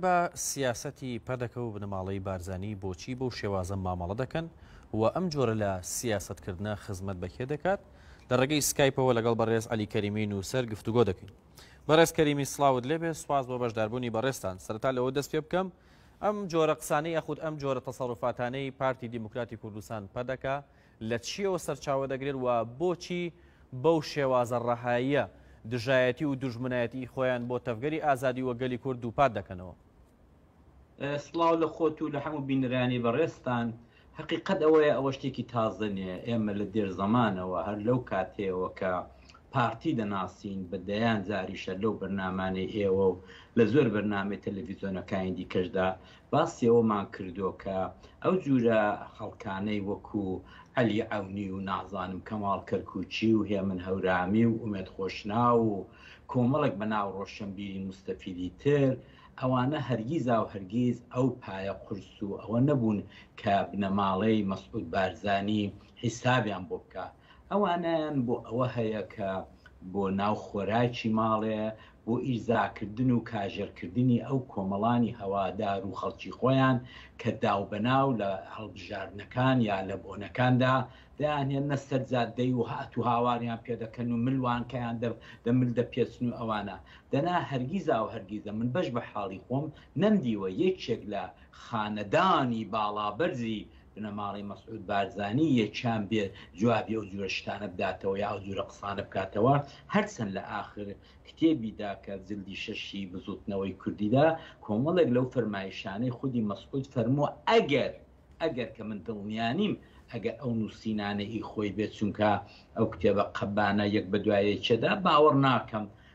بە سیاسەتی پەدەکە و بنەماڵەی بارزانی بۆچی بەو شێوازە مامەڵە دەکەن و ئەم جۆرە لە سیاسەتکردنە خزمەت بە کێ دەکات؟ لە ڕێگەی سکایپەوە لەگەڵ بەڕێز عەلی کەریمی نووسەر گفتوگۆ دەکەین. بەڕێز کەریمی سڵاوت لێبێ، سوپاس بۆ بەشداربوونی بەڕێزتان. سەرەتا لەوە دەست پێ بکەم ئەم جۆرە قسانەی یاخود ئەم جۆرە تەسەڕوفاتانەی پارتی دیموکراتی کوردستان، پەدەکە، لە چییەوە سەرچاوە دەگرێت و بۆچی بەو شێوازە ڕەهاییە دژایەتی و دوژمنایەتیی خۆیان بۆ تەڤگەری ئازادی و گەلی کورد دووپات دەکەنەوە؟ سڵاو لە خۆت و لە هەموو بینەرانی بەڕێزتان. هەقیقەت ئەوەیە ئەوە شتێکی تازە نییە، ئێمە لە دێر زەمانەوە هەر لەو کاتەیەوە کە پارتی دەناسین، بە دەیان جاریشە لەو بەرنامانەی ئێوە و لە زۆر بەرنامەی تەلەڤیزیۆنەکانی دیکەشدا باسی ئەوەمان کردووە کە ئەو جورە خەڵکانەی وەکو عەلی عەونی و نازانم کەماڵ کەرکوکی و هێمن هەورامی و ئومێد خۆشناو و کۆمەڵێک بە ناو ڕۆشەنبیری موستەفیدی تر ئەوانە هەرگیزاو هەرگیز ئەو پایە قورس و ئەوە نەبوون کە بنەماڵەی مەسعود بارزانی حیسابیان بۆ بکا ئەوانەیان بۆ ئەوە هەیە کە بۆ ناو خۆراکی ماڵێ بۆ ئیرزاکردن و کاژێرکردنی ئەو کۆمەڵانی هەوادار و خەڵکی خۆیان کە داوبەناو لە هەڵبژاردنەکان یا لە بۆنەکاندا دەیانهێننە سەر جادەی و هاتوهاواریان پێدەکەن و ملوانکەیان دەمل دەپێچن و ئەوانە دەنا هەرگیزا و هەرگیزە من بەش بە حاڵی خۆم نەمدیوە یەکێک لە خانەدانی باڵابەرزی بنەماڵەی مەسعود بارزانی یەکیان بێ جوابی ئەو جورە شتانە بداتەوە یا ئەو جورە قسانە بکاتەوە هەرچەند لە ئاخر کتێبیدا کە جلدی شەشی بزوتنەوەی کوردیدا کۆمەڵێک لەو فەرمایشانەی خودی مەسعود فەرمووە ئەگەر ئەگەر کە من دڵنیانیم ئەگەر ئەو نووسینانە ئی خۆی بێت چونکە ئەو کتێبە قەبانە یەک بە دوایەکێدا باوەڕ ناکەم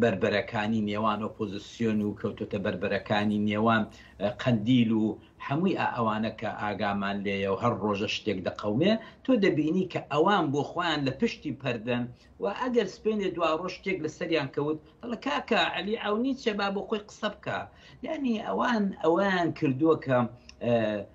بەربەرەکانی نێوان ئۆپۆزیسیۆن و کەوتۆتە بەربەرەکانی نێوان قەندیل و هەمووی ئەوانە کە ئاگامان لێە و هەر ڕۆژە شتێک دەقەومێ تۆ دەبینی کە ئەوان بۆ خۆیان لە پشتی پەردەن و ئەگەر سپێنێ دوا ڕۆژ شتێک لە سەریان کەوت دەڵە کاکە علی ئەونی چێبا بۆ خۆی قسە بکە یعنی ئەوان ئەویان کردووە کە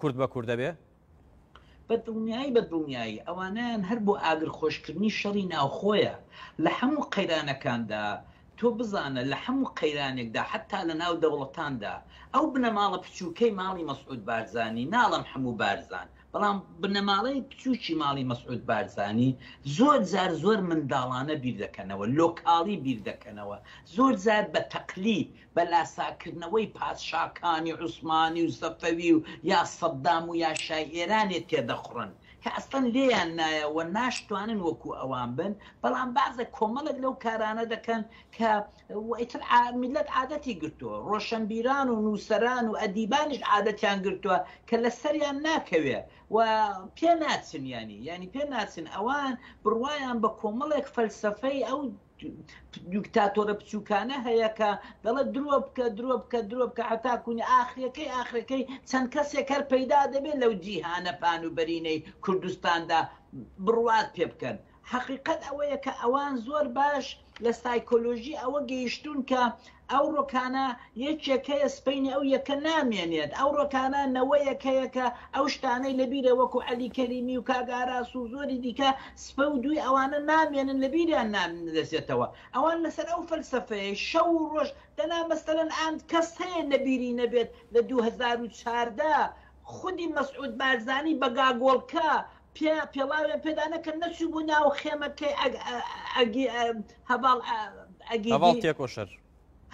کورد بە کوردە بێ؟ بە دڵنیایی بە دڵنیایی ئەوانەیان هەر بۆ ئاگر خۆشکردنی شەڕی ناوخۆیە لە هەموو قەیرانەکاندا تۆ بزانە لە هەموو قەیرانێکدا حەتا لە ناو دەوڵەتاندا ئەو بنەماڵە پچووکەی ماڵی مەسعود بارزانی ناڵێم حەموو بارزان بەڵام بنەماڵەی پچووکی ماڵی مەسعود بارزانی زۆر جار زۆر منداڵانە بیر دەکەنەوە لۆکاڵی بیر دەکەنەوە زۆر جار بە تەقلید بە لاساکردنەوەی پادشاکانی عوسمانی و سەفەوی و یا سەدام و یا شای ئێرانێ تێدەخوڕن کە ئەسڵەن لێیان نایە و ناشتوانن وەکوو ئەوان بن بەڵام بازە کۆمەڵێک لەو کارانە دەکەن کە و ئیتر عا میللەت عادەتی گرتووە ڕۆشەنبیران و نووسەران و ئەدیبانیش عادەتیان گرتووە کە لە سەریان ناکەوێ و پێ ناچن یانی یانی پێ ناچن ئەوان بڕوایان بە کۆمەڵێک فەلسەفەی ئەو دیکتاتۆرە بچووکانە هەیە کە دەڵێت درۆ بکە درۆ بکە درۆ بکە هەتا کوونی ئاخرەکەی ئاخرەکەی چەند کەسێک هەر پەیدا دەبێت لەو جیهانە پان و بەرینەی کوردستاندا بڕوات پێ بکەن حەقیقەت ئەوەیە کە ئەوان زۆر باش لە سایکۆلۆژی ئەوە گەیشتوون کە ئەو ڕۆکانە یەکێک هەیە سپەینی ئەو یەکە نامێنێت ئەو ڕۆکانە نەوەیەک هەیە کە ئەو شتانەی لە بیرە وەکو عەلی کەریمی و کاک ئاراس و زۆری دیکە سپە و دووی ئەوانە نامێنن لە بیریان نادەچێتەوە ئەوان لەسەر ئەو فەلسەفەیە شەو و ڕۆژ دەنا مەسەلەن ئاند کەس هەیە لە بیری نەبێت لە دوو هەزار و چاردە خودی مەسعود بارزانی بە گاگۆڵکە پێ پێڵاوێن پێدا نەکەن نەچوو بوو ناو خێمەکەی هەواڵ ئەگی تێکۆشەر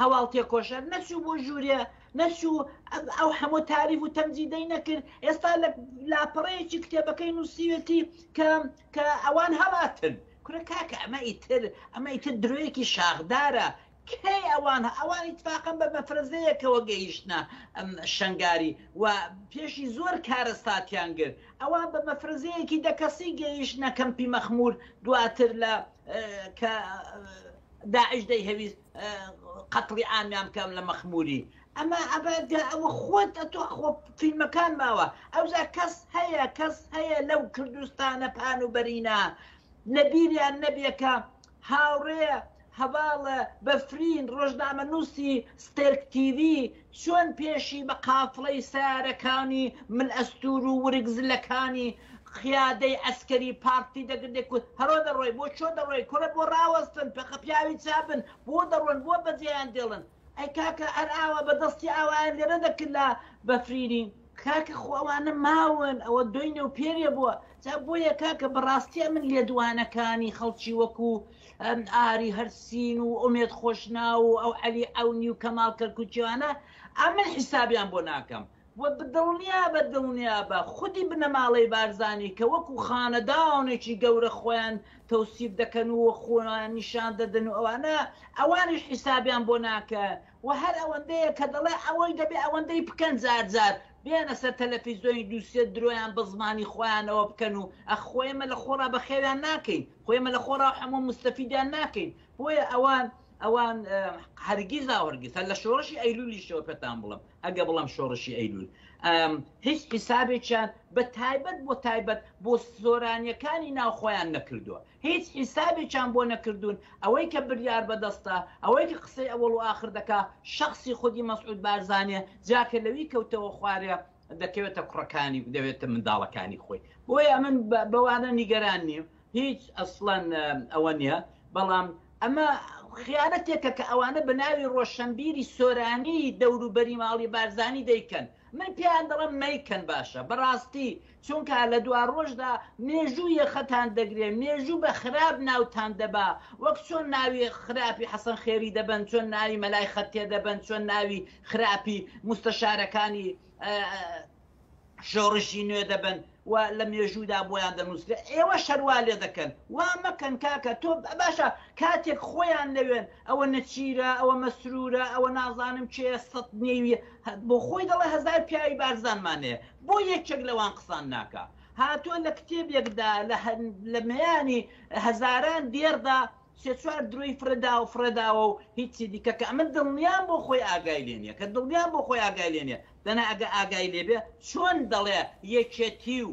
هەواڵ تێکۆشەر نەچوو بۆ ژوورێ نەچوو ئەو هەموو تاریف و تەمجی دەی نەکرد ئێستا لە لاپەڕەیەکی کتێبەکەی نووسیوێتی کە کە ئەوان هەڵاتن کورە کاکە ئەمە ئیتر ئەمە ئیتر درۆیەکی شاخدارە کەی ئەوان ئەوان ئیتفاقەن بە مەفرەزەیەکەوە گەیشتنە شەنگاری و پێشی زۆر کارەساتیان گرت ئەوان بە مەفرەزەیەکی دە کەسی گەیشتنە کەمپی مەخمور دواتر لە کە داعش دەیهەویست قەتڵی ئامیان بکەم لە مەخموری ئەمە ئەبەدا ئەوە خۆت ئەتۆ خۆ فیلمەکان ماوە ئەوجا کەس هەیە کەس هەیە لەو کوردستانە پان و بەرینە لە بیریان نەبیەکە هاوڕێ هەڤاڵ بەفرین ڕۆژنامەنووسی ستێرک تیڤی چۆن پێشی بە قافڵەی سەیارەکانی مل ئەستوور و ورگ زلەکانی قیادەی عەسکەری پارتی دەگرت دەیکوت هەرۆ دەڕۆی بۆ چۆ دەڕۆی کورە بۆ ڕاوەستن پەخە پیاوی چا بن بۆ دەڕۆن بۆ بەجێیان دێڵن ئەی کاکە هەر ئاوا بە دەستی ئاوایان لێ نەدەکرد لە بەفرینی کاکە خۆ ئەوانە ماون ئەوە دۆی نێوپێرێ بووە جا بۆیە کاکە بەڕاستیە من لێدوانەکانی خەڵکی وەکو ئاری هەرسین و ئومێد خۆشناو و ئەو عەلی عەونی و کەماڵ کەرکووکیوانە ئەمن حیسابیان بۆ ناکەم وە دڵنیابە دڵنیابە خودی بنەماڵەی بارزانی کە وەکو خانەدانێکی گەورە خۆیان تەوسیف دەکەن و خۆیان نیشان دەدەن و ئەوانە ئەوانیش حیسابیان بۆ ناکەن وە هەر ئەوەندەیە کە دەڵێ ئەوەی دەبێ ئەوەندەی بکەن جار جار بێنە سەر تەلەفیزۆنی دوو سێ درۆیان بە زمانی خۆیانەوە بکەن و ئەخ خۆ ئێمە لە خۆڕا بەخێویان ناکەین خۆ ئێمە لە خۆڕا هەموو مستەفیدیان ناکەین بۆیە ئەوان ئەوان هەرگیزا وەرگیز هەر لە شۆڕشی ئەیلولیشەوە پێتان بڵم ئەگە بڵم شۆڕشی ئەیلول هیچ حیسابێکیان بە تایبەت بۆ تایبەت بۆ سۆرانیەکانی ناو خۆیان نەکردووە هیچ حیسابێکیان بۆ نەکردوون، ئەوەی کە بریار بەدەستە، ئەوەی کە قسەی ئەوەڵ و ئاخر دەکا، شەخسی خودی مەسعود بارزانیە، جا کە لەوی کەوتەوە خوارێ، دەکەوێتە کوڕەکانی و دەوێتە منداڵەکانی خۆی. بۆیە من بەوانە نیگەران نیم، هیچ ئەسڵەن ئەوە نیە، بەڵام ئەمە خیانەتێکە کە ئەوانە بە ناوی ڕۆشەنبیری سۆرانی دەوروبەری ماڵی بارزانی دەیکەن، من پێیان دەڵێم مەیکەن باشە، بەڕاستی چونکا لە دواڕۆژدا مێژوو یەخەتان دەگرێ مێژوو بە خراپ ناوتان دەبا وەک چۆن ناوی خراپی حەسەن خێری دەبەن چۆن ناوی مەلای خەتێ دەبەن چۆن ناوی خراپی موستەشارەکانی شۆڕشی نوێ دەبەن و لە مێژوودا بۆیان دەنووسرێ ئێوەش هەر وا لێ دەکەن وا مەکەن کاکە تۆ باشە کاتێک خۆیان نەوێن ئەوە نەچیرە ئەوە مەسروورە ئەوە نازانم کێیە سەد نێویە بۆ خۆی دەڵێ هەزار پیاوی بارزانمان هەیە بۆ یەکێک لەوان قسان ناکا؟ هاتوە لە کتێبێکدا لە لە مەیانی هەزاران دێڕدا سێ چوار درۆی فرەداوە فرەداوە و هیچی دیکە کە ئەمە دڵنیام بۆ خۆی ئاگای لێ نیە کە دڵنیام بۆ خۆی ئاگای لێ نیە دەنا ئەگە ئاگای لێ بێ چۆن دەڵێ یەکێتی و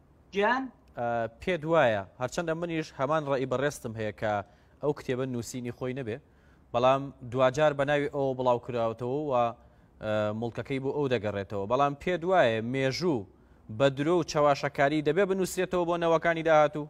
گیان؟ پێت وایە هەرچەندە منیش هەمان ڕێی بەڕێستم هەیە کە ئەو کتێبە نووسینی خۆی نەبێ بەڵام دواجار بە ناوی ئەوە بڵاو کراوەتەوە و مڵکەکەی بۆ ئەو دەگەڕێتەوە بەڵام پێت وایە مێژوو بە درۆ و چەواشەکاری دەبێ بنووسێتەوە بۆ نەوەکانی داهاتوو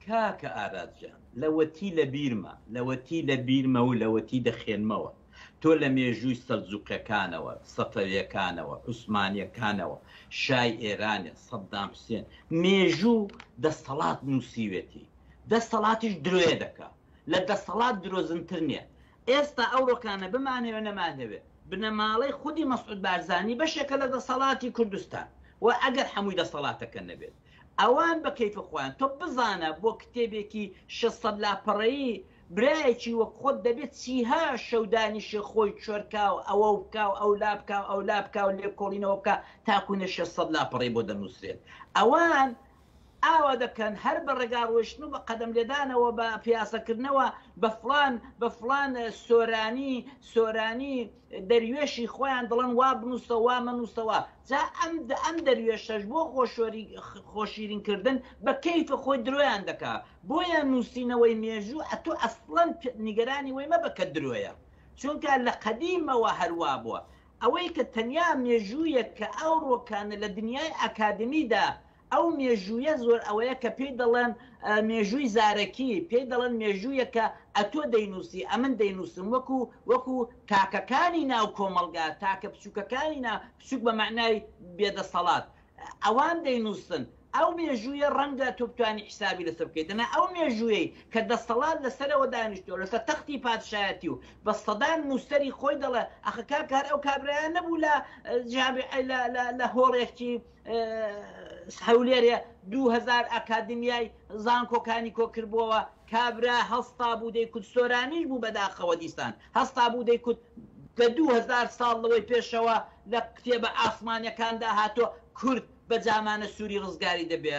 کاکە ئاراس جان لەوەتی لەبیرمە لەوەتی لەبیرمە و لەوەتی دەخێنمەوە تۆ لە مێژووی سەلجوقیەکانەوە سەفەویەکانەوە عوسمانیەکانەوە شای ئێرانێ سەدام حوسێن مێژوو دەستەڵات نووسیوێتی دەستەڵاتیش درۆێ دەکا لە دەستەڵات درۆزنتر نیە ئێستا ئەوڕۆکانە بمانەوێ نەمانەوێ بنەماڵەی خودی مەسعود بارزانی بەشێکە لە دەسەڵاتی کوردستان و ئەگەر حەمووی دەسەڵاتەکە نەبێت. ئەوان بە کەیفە خۆیان تۆ بزانە بۆ کتێبێکی شەش سەد لاپەڕەیی برایەکی وەک خۆت دەبێ چیها شەو دانیشێ خۆی چۆر کا و ئەوە و کا و ئەولا بکا و ئەولا بکا و لێکۆڵینەوە بکا تاکو نە شەش سەد لاپەڕەی بۆ دەنووسرێت ئەوان ئاوا دەکەن هەر بە ڕێگا ڕۆیشتن و بە قەدەم لێدانەوە بە پیاسەکردنەوە بە فڵان بە فڵان سۆرانی سۆرانی دەروێشی خۆیان دەڵێن وا بنووسە وا مەنووسەوە جا ئەم ئەم دەروێشەش بۆ خۆشۆری خۆشیرین کردن بە کەیفە خۆی درۆیان دەکا بۆیە نووسینەوەی مێژوو ئەتو ئەسڵەن نیگەرانی وەی مەبە کە درۆیە چونکە لە قەدیمەوە هەروا بووە ئەوەی کە تەنیا مێژوویەک کە ئەوڕۆ کانە لە دنیای ئاکادمیدا ئەو مێژوویە زۆر ئەوەیە کە پێی دەڵێن مێژووی زارەکی، پێی دەڵێن مێژوویەک کە ئەتۆ دەینووسی، ئەمن دەینووسم، وەکوو وەکوو تاکەکانی ناو کۆمەڵگا، تاکە بچووکەکانی نا، بچووک بە مەعنای بێ دەسەڵات، ئەوان دەینووسن. ئەو مێژوویە ڕەنگە تۆ بتوانی حیسابی لەسەر بکەی، دەنا ئەو مێژوویەی کە دەسەڵات لەسەرەوە دانیشتووە، لەسەر تەختی پادشایەتی و بە سەدان نووسەری خۆی دەڵێ، ئاخە کاکە هەر ئەو کابرایە نەبوو لە جامیعەی لە لە لە هۆڵێکی هەولێرێ دوهزار ئەکادمیای زانکۆکانی کۆکردبووەوە کابرا هەستا بوو دەیکوت سۆرانیش بوو بەداخەوە دیسان هەستا بوو دەیکوت لە دوهزار ساڵ لەوەی پێشەوە لە کتێبە ئاسمانەکاندا هاتۆ کورد بە جامانە سووری ڕزگاری دەبێ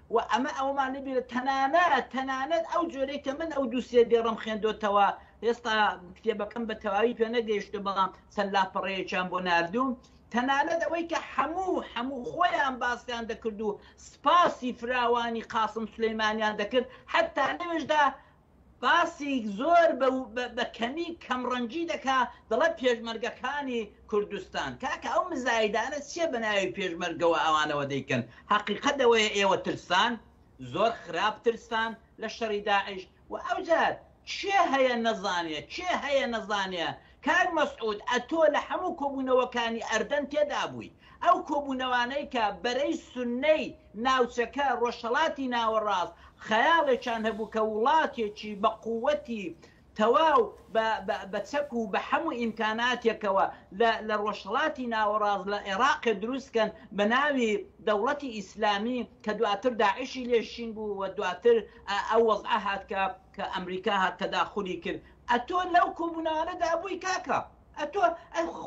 و ئەمە ئەوەمان نەبینێت تەنانەت تەنانەت ئەو جۆرەی کە من ئەو دوو سێ دێڕەم خوێندۆتەوە هێستا کتێبەکەم بە تەواوی پێ نەگەیشتە بەڵام چەند لاپەڕەیەکیان بۆ نردوم تەنانەت ئەوەی کە هەموو هەموو خۆیان باسیان دەکرد و سپاسی فراوانی قاسم سلەیمانیان دەکرد حتا لەوێشدا باسی زۆر بە کەمی کەم ڕەنجی دەکا دەڵێ پێشمەرگەکانی کوردستان کاکە ئەو مزایدانە چیە بە ناوی پێشمەرگەوە ئەوانەوە دەیکەن حەقیقەت ئەوەیە ئێوە ترسان زۆر خراپ ترسان لە شەڕی داعش وە ئەوجار کێ هەیە نەزانێ کێ هەیە نەزانێ کاک مەسعود ئەتۆ لە حەموو کۆبوونەوەکانی ئەردەن تێدابووی ئەو کۆبوونەوانەی کە بەرەی سونەی ناوچەکە ڕۆژهەڵاتی ناوەڕاست خەیاڵێکیان هەبوو کە وڵاتێکی بە قووتی تەواو بە بە چەک و بە حەموو ئیمکاناتێکەوە لە لە ڕۆژهەڵاتی ناوەڕاست لە ئێڕاقێ دروست کەن بە ناوی دەوڵەتی ئیسلامی کە دواتر داعشی لێ شین بوو و دواتر ئەو وەزعە هات کە کە ئەمریکا هات تەداخولی کرد ئەتۆ لەو کۆبونەوانەدا بووی کاکە ئەتۆ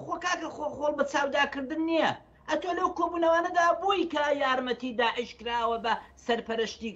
خۆ کاکە خۆ خۆڵ بە چاودا کردن نیە ئەتۆ لەو کۆبونەوانەدا بووی کە یارمەتی داعش کراوە بە سەرپەرشتی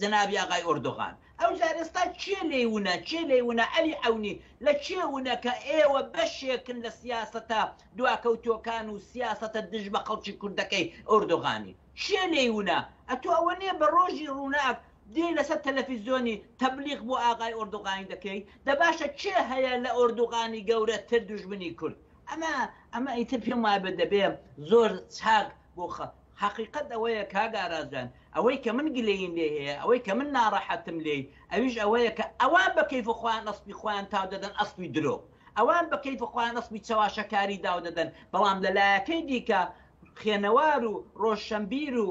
جەنابی ئاغای ئۆردۆغان ئەوجار ئێستا کێ لێی ونە کێ لێی ونە عەلی عەونی لە کێ ونە کە ئێوە بەشێکن لە سیاسەتە دواکەوتوەکان و سیاسەتە دژ بە خەڵکی کوردەکەی ئۆردۆغانی کێ لێی ونە ئەتۆ ئەوە نیە بە ڕۆژی ڕوناک دێی لەسەر تەلەفیزۆنی تەبلیغ بۆ ئاغای ئۆردوغانی دەکەیت دە باشە کێ هەیە لە ئۆردوغانی گەورە تر دوژمنی کورد ئەمە ئەمە ئیتر پێم وابێ دەبێ زۆر چاک بۆ خە حەقیقەت ئەوەیە کاک ئاراس جان ئەوەی کە من گلەییم لێی هەیە ئەوەی کە من ناڕەحەتم لێی ئەویش ئەوەیە کە ئەوان بە کەیف خۆیان ئەسپی خۆیان تاو دەدەن ئەسپی درۆ ئەوان بە کەیف خۆیان ئەسپی چەواشەکاری داو دەدەن بەڵام لە لایەکەی دیکە خێنەوار و ڕۆژشەمبیر و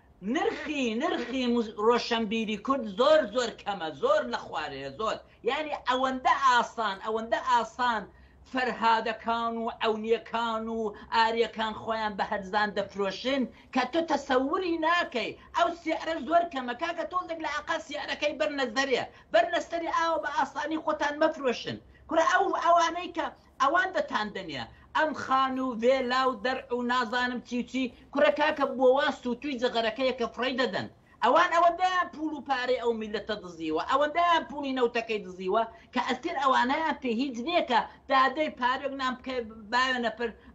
نرخی نرخی رۆشەنبیری کورد زۆر زۆر کەمە زۆر لە خوارەیە زۆر یانی ئەوەندە ئاسان ئەوەندە ئاسان فەرهادەکان و عەونیەکان و ئاریەکان خۆیان بە هەرزان دەفرۆشن کە تۆ تەسەوری ناکەی ئەو سیعرە زۆر کەمە کاکە تۆزێک لە عەقا سیعرەکەی بەرنە زەرێ بەرنە سەری ئاوە بە ئاسانی خۆتان مەفرۆشن کورە ئەو ئەوانەی کە ئەوان دەتاندەنێ ئەم خان و ڤێلا و دەرع و نازانم چی و چی، کوڕە کاکە بۆ وا سووتووی جەغەرەکەیە کە فڕێی دەدەن؟ ئەوان ئەوەندەیان پووڵ و پارەی ئەو میللەتە دزیوە، ئەوەندەیان پووڵی نەوتەکەی دزیوە کە ئەستێر ئەوانەیان پێ هیچ نییە کە دادەی پارەک نان بکەوێ، باوێنە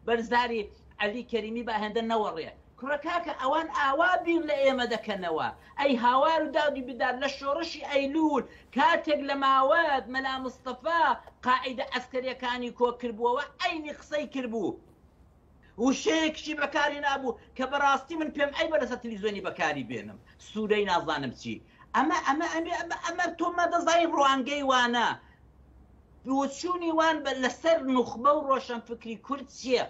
بەر زاری عەلی کەریمی با هێندە نەوەڕێ. کوڕە کاکە ئەوان ئاوا بیر لە ئێمە دەکەنەوە ئەی هاوار و داد و بیداد لە شۆڕشی ئەیلول کاتێک لە ماوەت مەلا مستەفا قاعیدە عەسکەریەکانی کۆ کربوەوە عەینی قسەی کربوو وشەیەکشی بەکار هێنابوو کە بەڕاستی من پێم عەیبە لەسەر تلیزۆنی بەکاری بێنم سورەی نازانم چی ئەمە ئەمە ئەمە ئەمە ئەمە تۆ مەدەزای ڕوانگەی وانە بۆچوونی وان بە لەسەر نوخبە و ڕۆشەنفکری کورد چیە؟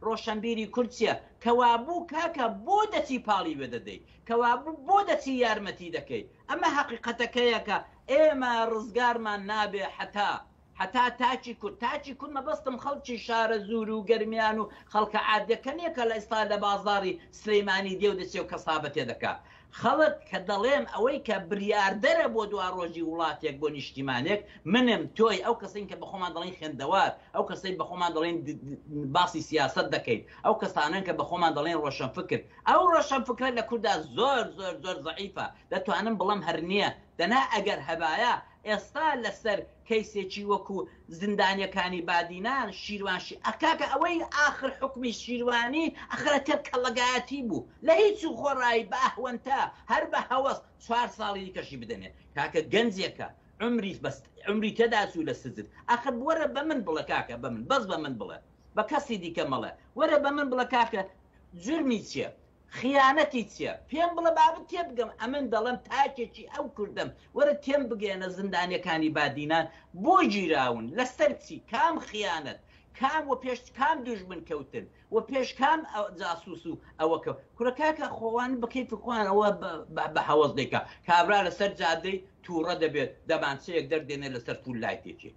ڕۆشەنبیری کورد چیە؟ کەوابوو کاکە بۆ دەچی پاڵی وێ دەدەی؟ کەوابوو بۆ دەچی یارمەتی دەکەی؟ ئەمە هەقیقەتەکەیە کە ئێمە ڕزگارمان نابێ حەتا حەتا تاکی کورد تاکی کورد مەبەستم خەڵکی شارەزوور و گەرمیان و خەڵکە عادیەکە نیە کە لە ئیستا لە بازاری سلیمانی دێ و دەچێ و کەسابەتێ دەکا خەڵک کە دەڵێم ئەوەی کە بریاردەرە بۆ دوارۆژی وڵاتێک بۆ نیشتیمانێک، منم، تۆی، ئەو کەسەین کە بەخۆمان دەڵێین خوێندەوار، ئەو کەسەی بەخۆمان دەڵێین باسی سیاسەت دەکەین، ئەو کەسانەن کە بەخۆمان دەڵێین ڕۆشنفکر. ئەو ڕۆشنفکرە لە کوردا زۆر زۆر زۆر زەعیفە، دەتوانم بڵێم هەر نییە، دەنا ئەگەر هەبایە، ئێستا لەسەر کەیسێکی وەکو زندانیەکانی بادینان شیروان شی ئە کاکە ئەوەی ئاخر حوکمی شیروانی ئەخرە کە کەڵەگایەتی بوو لە هیچ و خۆڕایی بە ئەهوەنتە هەر بە هەوەس چوار ساڵی دیکەشی بدەنێ کاکە گەنجێکە عومری بەس عومری تێدا چوو لە سجن ئەخر بوەرە بە من بڵێ کاکە بە من بەس بە من بڵێ بە کەسی دیکە مەڵێ وەرە بە من بڵێ کاکە جورمی چیە خیانەتی چیە پێم بڵە با بتێبگەم ئەمن دەڵێم تاکێکی ئەو کوردەم وەرە تێم بگەیەنە زندانیەکانی بادینان بۆ گیراون لەسەر چی کام خیانەت کام وە پێش کام دوژمن کەوتن وە پێش کام جاسوس و ئەوە کەوت کورە کاکە خوان بە کەیفی خوان ئەوە بە هەوەس دەیکا کابرا لەسەر جادەی توڕە دەبێت دەمانچەیەک دەردێنێ لەسەر فول لایتێکی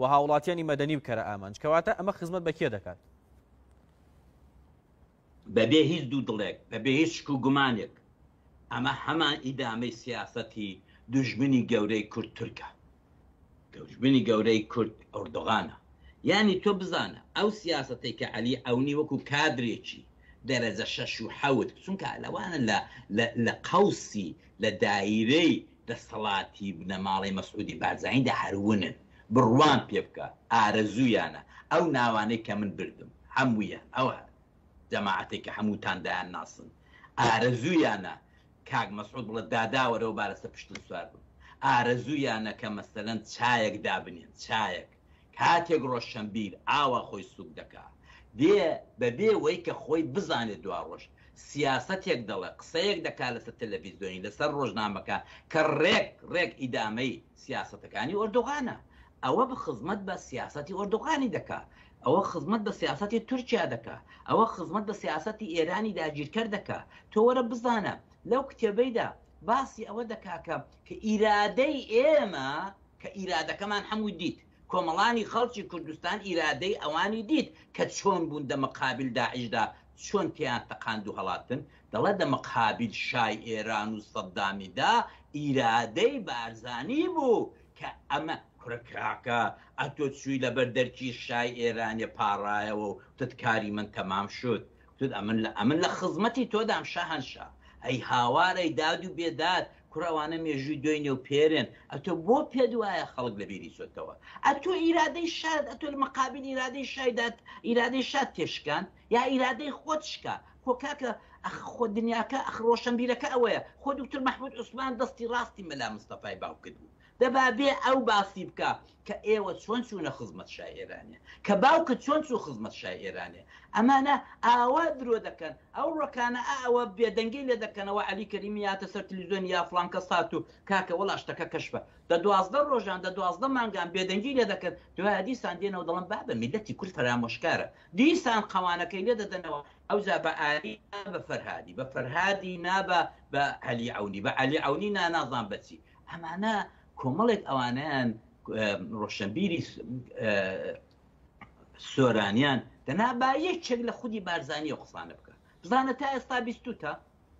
و هاوڵاتیانی مەدەنی بکەرە ئامانج، کەواتە ئەمە خزمەت بە کێ دەکات؟ بەبێ هیچ دوو دڵێک، بەبێ هیچ شک و گومانێک، ئەمە هەمان ئیدامەی سیاسەتی دوژمنی گەورەی کورد تورکە. دوژمنی گەورەی کورد ئۆردۆغانە. یانی تۆ بزانە، ئەو سیاسەتەی کە عەلی عەونی وەکو کادرێکی دەرەجە شەش و حەوت، چونکە لەوانە لە لە لە قەوسی، لە دایرەی دەسەڵاتی بنەماڵەی مەسعودی بارزانیدا هەر ونن بڕوام پێ بکە ئارەزویانە ئەو ناوانەی کە من بردم هەمویان ئەو جەماعەتەی کە هەموتان دایان ناسن ئارەزویانە کاک مەسعود بڵێ دادا وەرەوە با لەسەر پشتت سوار بم ئارەزویانە کە مەسەلەن چایەک دابنێن چایەک کاتێک ڕۆشەنبیر ئاوا خۆی سووک دەکا دێ بە بێ وەی کە خۆی بزانێ دواڕۆژ سیاسەتێک دەڵێ قسەیەک دەکا لەسەر تەلەفیزیۆنی لەسەر ڕۆژنامەکە کە ڕێک ڕێک ئیدامەی سیاسەتەکانی ئۆردوغانە ئەوە بە خزمەت بە سیاسەتی ئۆردوغانی دەکا ئەوە خزمەت بە سیاسەتی تورکیا دەکا ئەوە خزمەت بە سیاسەتی ئێرانی داگیرکەر دەکا تۆ وەرە بزانە لەو کتێبەیدا باسی ئەوە دەکا کە کە ئیرادەی ئێمە کە ئیرادەکەمان حەمووی دیت، کۆمەڵانی خەڵکی کوردستان ئیرادەی ئەوانی دیت کە چۆن بوون دە مقابل داعشدا چۆن تێیان تەقاند و هەڵاتن، دەڵێ دە مقابل شای ئێران و سەدامی دا ئیرادەی بارزانی بوو کە ئەمە. کورە کاکە ئەتۆ چووی لەبەر دەرکی شای ئێرانێ پاڕایەوە و وتت کاری من تەمام شد، تود ئەمن لە ئەمن لە خزمەتی تۆدام شەهەنشا ئەی هاوارەی داد و بێداد کورە ئەوانە مێژووی دۆینێ و پێرێن ئەتۆ بۆ پێت وایە خەڵک لە بیری چۆتەوە ئەتۆ ئیرادەی شارت ئەتۆ لە مەقابل ئیرادەی شای داد ئیرادەی شات تێشکاند یا ئیرادەی خۆت شکا خۆ کاکە ئەخ خۆ دنیاکە ئەخ ڕۆشەنبیرەکە ئەوەیە خۆ دوکتور مەحموود عوسمان دەستی ڕاستی مەلا مستەفای باوکت بوو دە با بێ ئەو باسی بکا کە ئێوە چۆن چوونە خزمەت شای ئێرانێ، کە باوکت چۆن چوو خزمەت شای ئێرانێ. ئەمانە ئاوا درۆ دەکەن. ئەو ڕکانە ئا ئەوە بێدەنگی لێ دەکەنەوە عەلی کەریمی هاتە سەر تلیزۆن یا فڵان کەس هات و کاکە وەڵا شتەکە کەشفە. دە دوازدە ڕۆژان دە دوازدە مانگان بێدەنگی لێ دەکەن دوایە دیسان دێنەوە دەڵن بابە میللەتی کورد فەرامۆشکارە. دیسان قەوانەکەی لێ دەدەنەوە ئەوجا بە ئاری نا بە فەرهادی بە فەرهادی نا بە بە عەلی عەونی بە عەلی عەونی نا نازان بە چی. ئەمانە کۆمەڵێک ئەوانیان ڕۆشنبیری سۆرانیان دەنا با یەکێک لە خودی بارزانانی و قسانە بکە بزانە تا ئێستا بیستوتە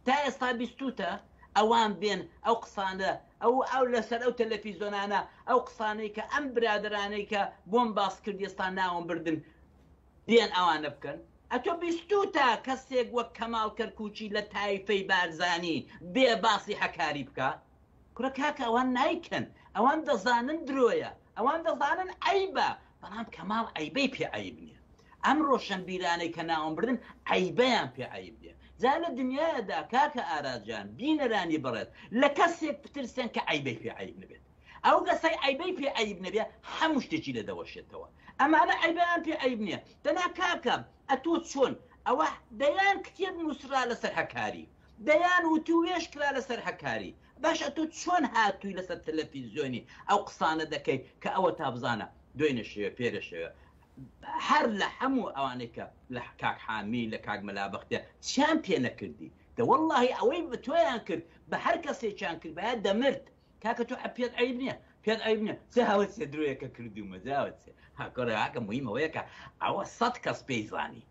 تا ئێستا بیستوتە ئەوان بێن ئەو قسانە ئەو ئەو لەسەر ئەو تەلەفیزۆنانە ئەو قسانەی کە ئەم برادرانەی کە بۆم باس کرد ئێستا ناوم بردن بیان ئەوانە بکەن؟ ئەتۆ بیستوتە کەسێک وەک کەماڵ کەرکوکی لە تایفەی بارزانی بێ باسی هەکاری بکا؟ کورە کاکە ئەوان نایکەن ئەوان دەزانن درۆیە ئەوان دەزانن عەیبە بەڵام کەماڵ عەیبەی پێ عەیب نیە ئەم ڕۆشەنبیرانەی کە ناوم بردن عەیبەیان پێ عەیب نیە جا لە دنیایەدا کاکە ئارا جان بینەرانی بەڕێز لە کەسێک بترسێن کە عەیبەی پێ عەیب نەبێت ئەو کەسەی عەیبەی پێ عەیب نەبێ حەموو شتێکی لێ دەوەشێتەوە ئەمانە عەیبیان پێ عەیب نیە دەنا کاکە ئەتۆ چۆن ئەوە دەیان کتێب نوسرا لەسەر هەکاری دەیان وتووێژ کرا لەسەر هەکاری باش ئەتۆ چۆن هاتووی لەسەر تەلەفیزیۆنی ئەو قسانە دەکەی کە ئەوەتا بزانە دوێنێ شەوێ پێرێ شەوێ هەر لە حەموو ئەوانەی کە لە کاک حامی لە کاک مەلا بەختیار چیان پێ نەکردی دە وەڵڵاهی ئەوەی بە تۆیان کرد بە هەر کەسێکیان کردبایە دەمرد کاکە تۆ پێت عیب نییە پێت عیب نیە چ هەوت سێ درۆیەکە کردومە جاوت سێ هاکۆراکە مهمەوەیەکە ئەوە سەد کەس پێی زانی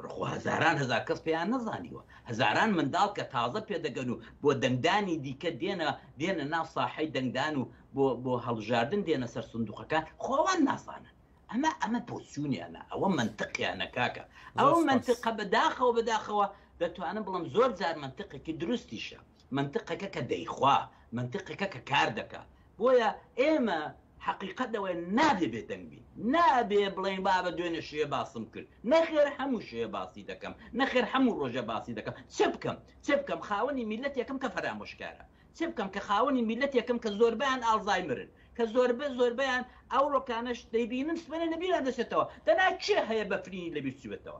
ڕخۆ هەزاران هزار کەس پێیان نەزانیوە هەزاران منداڵ کە تازە پێدەگەن و بۆ دەنگدانی دیکە دێنە دێنە ناو ساحەی دەنگدان و بۆ بۆ هەڵبژاردن دێنە سەر سندوقەکان خۆوان نازانن ئەمە ئەمە پۆسیونیانە ئەوە منتقیانە کاکە ئەو منتقە بەداخەوە بەداخەوە دەتوانم بڵم زۆر جار منتقێکی دروستیشە مەنتقێکە کە دەیخوا، مەنتقێکە کە کار دەکا. بۆیە ئێمە حەقیقەت لەوەیە نابێ بێدەنگ بین. نابێ بڵێین بابە دوێنێ شێ باسم کرد. نەخێر هەموو شێ باسی دەکەم. نەخێر هەموو ڕۆژێ باسی دەکەم. چ بکەم؟ چ بکەم خاوەنی میللەتێکم کە فەرامۆشکارە. چ بکەم کە خاوەنی میللەتێکم کە زۆربەیان ئاڵزایمرن. کە زۆربە زۆربەیان ئەوڕۆکانەش دەیبینن سبەینێ لە بیران دەچێتەوە. دەنا کێ هەیە بەفرینی لە بیر چووبێتەوە؟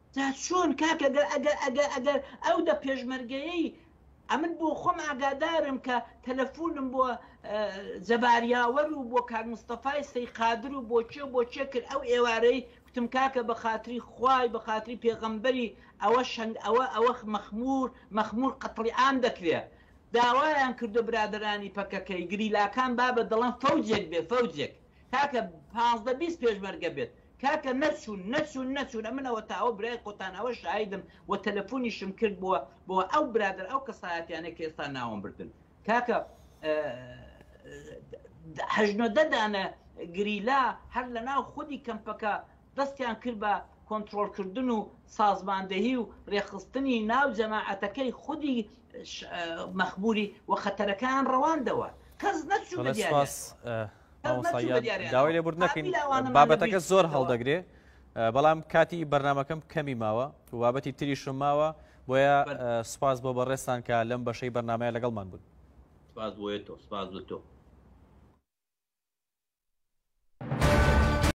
جا چۆن کاکە گەر ئەگەر ئەگەر ئەگەر ئەو دە پێشمەرگەیەی ئەمن بۆ خۆم ئاگادارم کە تەلەفونم بۆ جەبار یاوەر و بۆ کاک مستەفای سەی قادر و بۆ کێ و بۆ کێ کرد ئەو ئێوارەی کوتم کاکە بە خاتری خوای بە خاتری پێغەمبەری ئەوە شەنگ ئەوە ئەوە مەخمور مەخمور قەتڵیعام دەکرێ داوایان کردو برادەرانی پەکەکەی گریلاکان بابە دەڵەن فەوجێک بێ فەوجێک کاکە پازدە بیست پێشمەرگە بێت کاکە نەچوون نەچوون نەچوون ئەمن ئەوەتا ئەوە برای خۆتان ئەوە شاهیدم وە تەلەفونیشم کردبوە بۆ ئەو برادەر ئەو کەسایەتیانەی کە ئێستا ناوم بردن کاکە هەشت نۆدە دانە گریلا هەر لە ناو خودی کەمپەکە دەستیان کرد بە کۆنترۆڵکردن و سازماندەهی و رێخستنی ناو جەماعەتەکەی خودی مەخموری و خەتەرەکەیان ڕەواندەوە کەس نەچوو بە دیاریانەوە. داوای لێبور نەکەین بابەتەکە زۆر هەڵدەگرێ بەڵام کاتی بەرنمەکەم کەمی ماوە و بابەتی تریشم ماوە بۆیە سپاس بۆ بەڕێستان کە لەم بەشەی بەرنمەیە لەگەڵمان بوون سپاس بۆیە تۆ سپاس بۆ تۆ